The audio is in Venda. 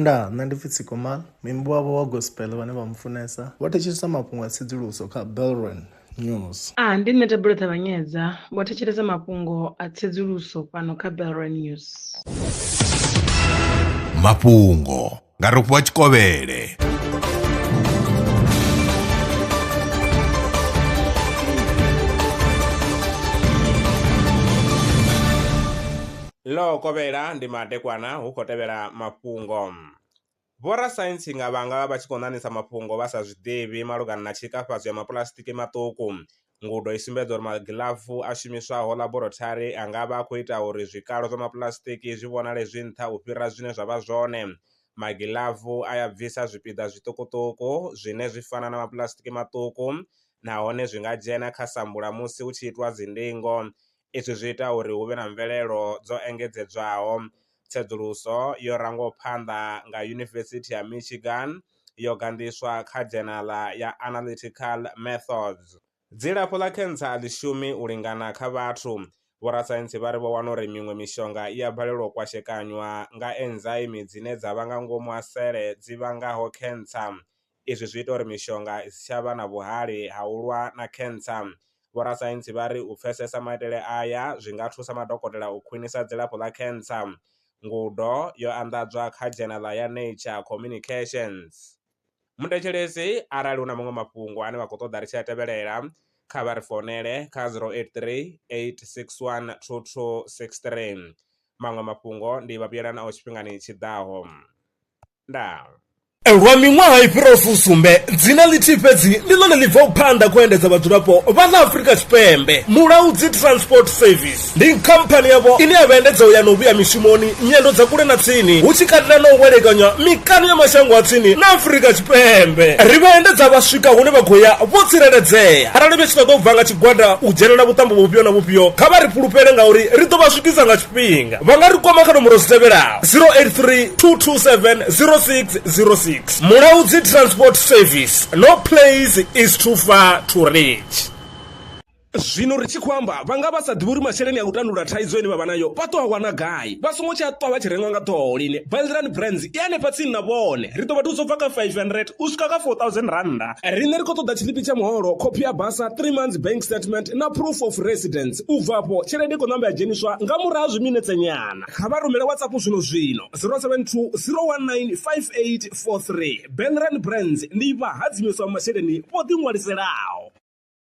Ndaa, nṋe ndi pfi Tsikomal, muimbi wavho wa gospel vhane vha mu funesa vho thetshelesa mafhungo a tsedzuluso kha Belron News. A, ndi nṋe Thabelo Ṱavhanyedza, vho thetshelesa mafhungo a tsedzuluso fhano kha Belron News. Mafhungo nga Rofhiwa Tshikovhele. Ḽo kovhela ndi madekwana hu khou tevhela mafhungo. Vhorasaintsi nga vhanga vha tshi khou ṋaṋisa mafhungo vha sa zwi ḓivhi malugana na tshikafhadzo ya mapuḽasitiki maṱuku. Ngudo i sumbedza uri magilafu a shumiswaho ḽaborotharini a nga vha a khou ita uri zwikalo zwa mapuḽasitiki zwi vhonale zwi nṱha u fhira zwine zwa vha zwone. Magilafu a ya bvisa zwipiḓa zwiṱukuṱuku zwine zwi fana na mapuḽasitiki maṱuku nahone zwi nga dzhena kha sambula musi hu tshi itwa dzindingo. Izwi zwi ita uri hu vhe na mvelelo dzo engedzedzwaho. Tsedzuluso yo rangwaho phanḓa nga Yunivesithi ya Michigan yo ganḓiswa kha dzhenala ya Analytical Methods. Dzilafho ḽa khentsa a ḽi shumi u lingana kha vhathu. Vhorasaintsi vha ri vho wana uri miṅwe mishonga i a balelwa u kwashekanywa nga enzaimi dzine dza vha nga ngomu ha sele dzi vhangaho khentsa. Izwi zwi ita uri mishonga i si tsha vha na vhuhali ha u lwa na khentsa. Vhorasaintsi vha ri u pfesesa maitele aya zwi nga thusa madokotela u khwinisa dzilafho ḽa khentsa. Ngudo yo anḓadzwa kha dzhenaḽa ya Nature Communications. Muthetshelesi arali hu na maṅwe mafhungo ane vha khou ṱoḓa ri tshi a tevhelela, kha vha ri founele kha 0838612263. Maṅwe mafhungo ndi vha vhuyela nao tshifhingani tshi ḓaho. ndango. Lwa miṅwaha i fhiraho fusumbe, dzina ḽithihi fhedzi ndi ḽone ḽi bvaho phanḓa khou endedza vhadzulapo vha ḽa Afrika Tshipembe. Mulaudzi Transport Service ndi khamphani yavho ine ya vha endedza u ya na u vhuya mishumoni, nyendo dza kule na tsini, hu tshi katela na u welekanywa mikano ya mashango a tsini na Afrika Tshipembe. Ri vha endedza vha swika hune vha khou ya vho tsireledzea. Arali vhe tshi ṱoḓa u bva nga tshigwada u dzhenela vhuṱambo vhufhio na vhufhio, kha vha ri fhulufhele ngauri ri ḓo vha swikisa nga fhinga vha nga ri kwama kha nomboro dzi tevhelaho 083 227 0606 mulaudzi transport service no place is too far to reach zwino ri tshi khou amba vha nga vha sa ḓivhi uri masheleni a u tandulula thaidzo ine vha vha nayo vha ṱo a wana gai vha songo tshi a ṱwa vha tshi rengwa nga ṱhoho lini baldirani brands i hanefha tsini na vhone ri ḓo vha thusa u bva kha 500 u swika kha 4000 rannda riṋe ri khou ṱoḓa tshiḽipi tsha muholo khophi ya basa 3 months bank statement na proof of residence U bva afho, tshelede i khou ṋamba ya dzheniswa nga murahu ha zwiminetse nyana. Kha vha rumele WhatsApp zwino-zwino, 072 019 5843. Benren Brands ndi vhahadzimiswa vha masheleni vho ḓiṅwaliselaho.